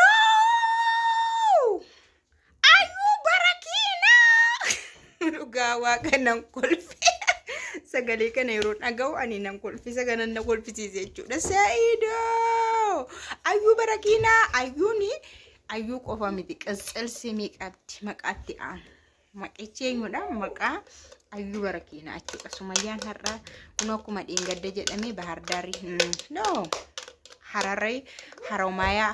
Sa'idoo! Ayuu bara kiinaa! Dhugaa waaqa nan kolfe. Sagalee kana yeroo dhaga'u ani nan kolfe. Sagalan na kolfisiise jechuudha. Sa'idoo! Ayuu bara kiinaa! Ayuuni ayuu qofa miti. Qisqilsimii qabdi maqaatti aanu. Maqichi eenyudha? Maqaa Ayyuu Barakiinaa jechuudha. Sumayyaan har'aa kun akkuma dheengadda jedhamee Bahar Daarii no Hararee Haromaayaa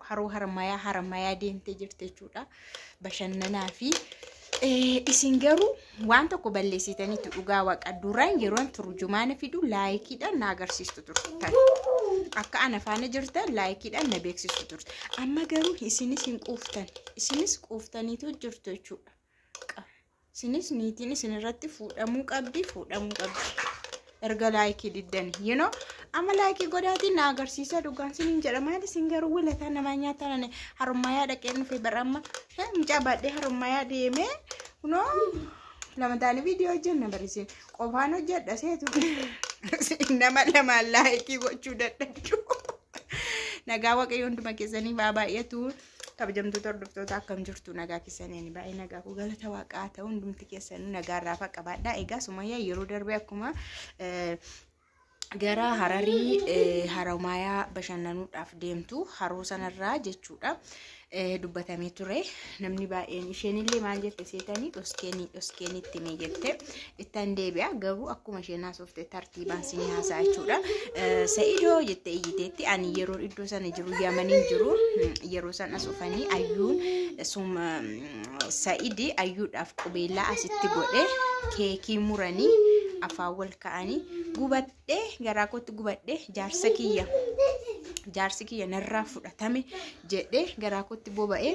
Haroo Harmaayaa Harmaayaa deemtee jirti jechuudha. Bashannanaa fi isin garuu waan tokko balleessitaniitu dhugaa waqa duraan yeroon turjumaana fidu laayikiidhaan na agarsiistu turtan. Akka ana faana jirtan laayikiidhaan na beeksistu turtan. Amma garuu isinis hin quuftan. Isinis quuftaniitu jirtu jechuudha. Isinis niitiin isin irratti fuudhamuu qabdi, fuudhamuu qabdi. Erga laayikii diddani. You know, amma laayikii godhaatiin na agarsiisa dhugaan sin hin jedha. Maali sin garuu wilataa namaa nyaataan ani harummayaa dhaqeen dhufe bara amma. Mucaa baadhee harummayaa deemee. Kunoo lama taane viidiyoo hojjenna barisiin. Qofaan hojjedha seetu. Nama lamaan laayikii gochuu dadhabdu. Nagaa waaqayyo hunduma keessanii baa baay'atu. Kabajamtoota hordoftoota akkam jirtu nagaa keessaniin baay'ee nagaa koo galata waaqaa ta'u hundumti keessanuu nagaa irraa faqa baadhaa. Egaa sumayyaa yeroo darbe akkuma eh, gara hararii eh, haromaayaa bashannanuudhaaf deemtu haroo sanarraa jechuudha eh, dubbatamee ture namni baay'een isheenillee maal jette seetanii dhoskeenii dhoskeenii itti mee jette ittan deebi'a garuu akkuma isheen haasofte tartiibaan sinii haasaa jechuudha Eh, sa'idoo jette iyyiteetti ani yeroo iddoo sana jiru yamaniin jiru mm, yeroo san as dhufanii ayyuun sum sa'idi ayyuudhaaf qubeellaa asitti godhe keekii muranii afaan wal ka'anii gubadhee garaa kootti gubadhee jaarsa kiyya jaarsi kiyya narraa fudhatame jedhee garaa kootti boba'ee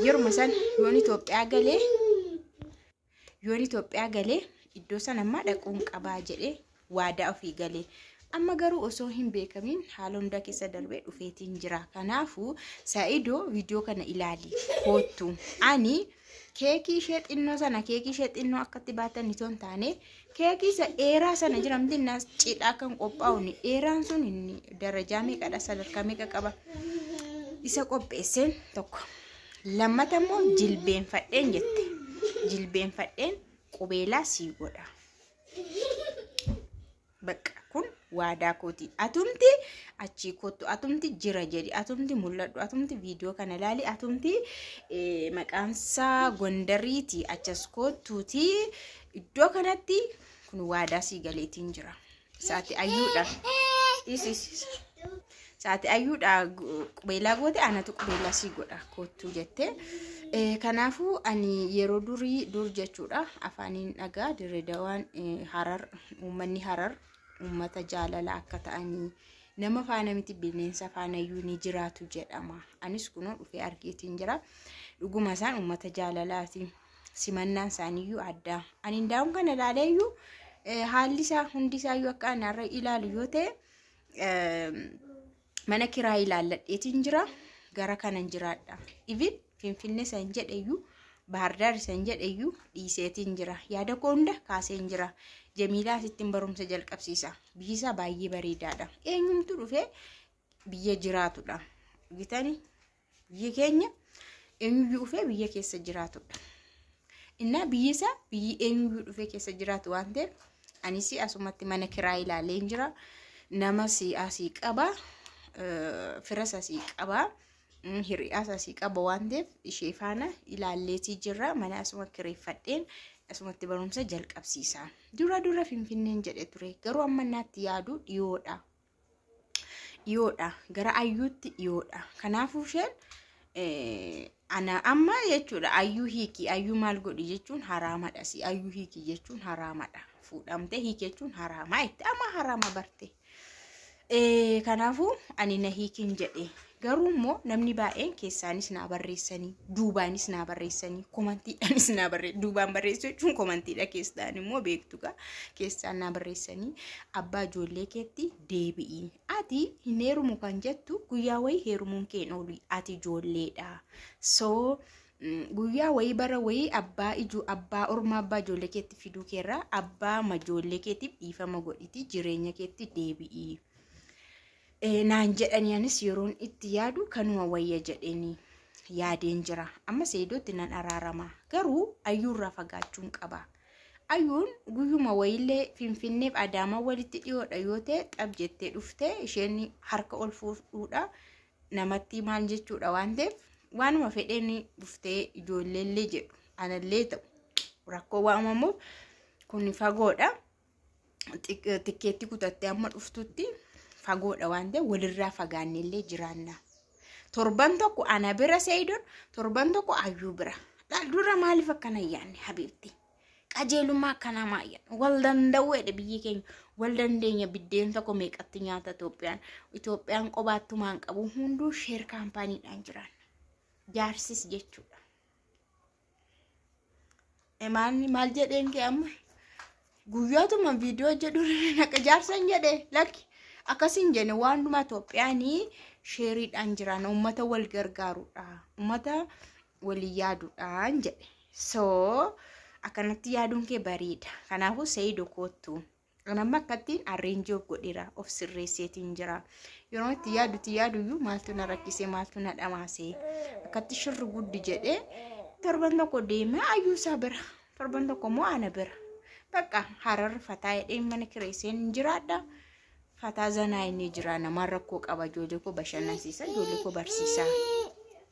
yeruma san yoon Itoophiyaa galee yoon Itoophiyaa galee iddoo san ammaa dhaquun qabaa jedhee waadaa ofii galee amma garuu osoo hin beekamin haala hundaa keessa darbee dhufeetiin jira kanaafuu saa'idoo viidiyoo kana ilaali koottu ani keekii ishee xinnoo sana keekii ishee xinnoo akkatti baatan itoo hin taane keekii isa dheeraa sana jira miti inni as cidhaa kan qophaa'u inni dheeraan sun inni darajaa meeqadha sadarkaa meeqa qaba isa qopheesseen tokko lammata immoo jilbeenfadheen jette jilbeenfadheen qubeelaa sii godha Baqqa kun waadaa kooti. Atumti achii kottu, atumti jira jedhi, atumti mul'adhu, atumti viidiyoo kana ilaali, atumti eh, maqaansaa Gondariiti achas kottuuti iddoo kanatti kun waadaa sii galeetiin jira. Isaati ayyuudha. Dhiisi. Caati ayyuudha qubeelaa goote anatu qubeelaa sii godha koottuu jette. Eh, Kanaafuu ani yeroo durii dur jechuudha afaaniin dhagaa dirree dawaan eh, harar uummanni harar uummata jaalala akka ta'anii nama faana miti bineensa faanayyuu ni jiraatu jedhama. Anis kunoo dhufee argeetiin jira. Dhuguma isaan uummata jaalalaati. Simannaan isaaniiyyuu addaa. Ani ndaa'uun kana ilaaleeyyuu eh, haalli isaa hundi isaayyuu akka ani har'a ilaalu yoo ta'e mana kiraa ilaalladheetiin jira gara kanan jiraadha ivin finfinne san jedheyyu baardaar san jedheyyu dhiiseetiin jira yaada koo hunda kaaseen jira jamiilaa asittiin barumsa jalqabsiisa biyyi isaa baay'ee bareedaadha eenyumtu dhufee biyya jiraatudha gitani Biyyi keenya eenyuyyuu dhufee biyya keessa jiraatudha. Innaa biyyi isaa biyyi eenyuyyuu dhufee keessa jiraatu waan ta'eef anis asumatti mana kiraa ilaalee hin jira. Namas asii qaba. Firas asii qaba. Hiriyaas asii qaba waan ta'eef ishee faana ilaalleetii jirra. Mana asuma kireeffadheen asumatti barumsa jalqabsiisa. Dura dura Finfinneen jedhe ture. Garuu amma naatti yaadu dhiyoodha. dhiyoodha gara ayyuutti dhiyoodha kanaafuu isheen ana amma jechuudha ayyuu hiiki ayyuu maal godhi jechuun haraamadha si ayyuu hiiki jechuun haraamadha fuudhamtee hiiki jechuun haraamaa itti amma haraama barte kanaafuu ani na hiikin jedhe Garuu immoo namni baay'een keessaanis naa barreessanii duubaanis naa barreessanii komantiidhaanis naa barreessanii duubaan barreessuu jechuun komantiidha keessaan immoo beektu gaa keessaan naa barreessanii abbaa ijoollee keetti deebi'i ati hin heerumu kan jettu guyyaa wayii heerumuun kee hin oolu ati ijoolleedha soo mm, guyyaa wayii bara wayii abbaa ijoo abbaa ormaa abbaa ijoollee keetti fiduu keerraa abbaa ijoollee keetiif dhiifama godhiti jireenya keetti deebi'i. eh, naan jedhanii anis yeroon itti yaadu kanuma wayya jedheenii yaadeen jira amma seedootti nan araarama garuu ayyuurraa fagaachuun qaba ayyuun guyyuma wayiillee finfinneef adaamaa walitti dhiyoodha yoo ta'e xab jettee dhuftee isheen harka ol fuudhuudha namatti maal jechuudha waan ta'eef waanuma fedheen dhuftee ijoolleellee jedhu anallee ta'u rakkoo waamamuuf kun fagoodha. tikkeetti kutattee amma dhuftutti fagoodha waan ta'e walirraa fagaannellee jiraanna. Torban tokko ana bira seeyidoon torban tokko ayyuu bira. Dura maaliif akkana yaanne habiibti? Qajeelummaa akkanaa maayyan wal danda'uu jedhe biyyi keenya wal dandeenya biddeen tokko meeqatti nyaata Itoophiyaan Itoophiyaan qobaattumaan qabu hunduu sheer kaampaaniidhaan jiraanna. Jaarsis jechuudha. Imaanni maal jedheen kee amma guyyootuma viidiyoo jedhu naqa jaarsan jedhe lakki akkasiin jenne waan dhuma Itoophiyaanii sheeriidhaan jiran uummata wal gargaarudha uummata walii yaaduudhaan jedhe soo akkanatti yaaduun kee bareeda kanaafuu seeyidoo koottu. An amma akkattiin arreenjii of godheera of sirreesseetiin jira. Yeroo itti yaadutti yaaduyyuu maaltu na rakkisee maaltu na dhamaasee akkatti shirri guddi jedhee torban tokko deemee ayyuusaa bira torban tokko immoo ana bira bakka hararri fataa jedhee mana kireesseen hin jiraadha. Fataa zanaa inni jira namaan rakkoo qaba ijoollee koo bashannansiisa ijoollee koo barsiisa.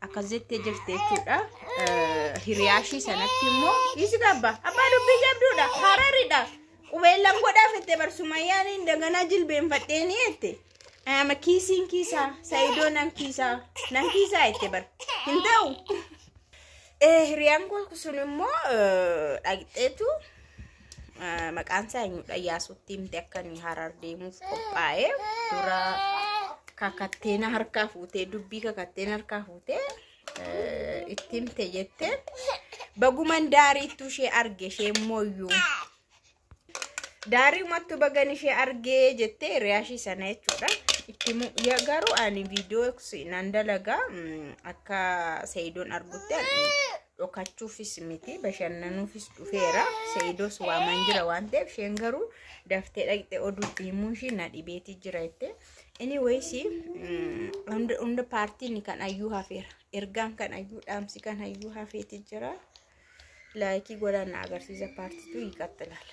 akkas jettee jirti jechuudha. Hiriyaashii sanatti immoo dhiisi qabba. Abbaa dubbii jabduudha. Hararidha. Qubeellan godhaa fette barsumayyaan hin daganaa jilbeenfadhee ni jette. Ama kiisiin kiisaa, sayidoo nan kiisaa, nan kiisaa jette bar. Hin ta'u. Hiriyaan kun sun immoo dhaqxeetu maqaan isaa eenyudha Iyaasuutti himte akka inni harar deemuuf qophaa'e dura kakatteena harkaa fuutee dubbii kakatteen harkaa fuutee itti himte jette baguman daariittuu ishee arge ishee mooyyuu daarii umattuu bagan ishee argee jettee hiriyaashii sana jechuudha itti garuu ani viidiyoo nan dalagaa akka seeyidoon argutti dhokachuufis miti bashannanuufis dhufeera seeyidoos waaman jira waan ta'eef isheen garuu daftee dhaqxe oduu deemuun ishii na dhibeetii jira jette inni wayisi hunda paartiin kan ayyuu hafeera ergaan kan ayyuu dhaamsi kan ayyuu hafeeti jira laayikii godhaan na agarsiisa paartiitu hiikattalaala.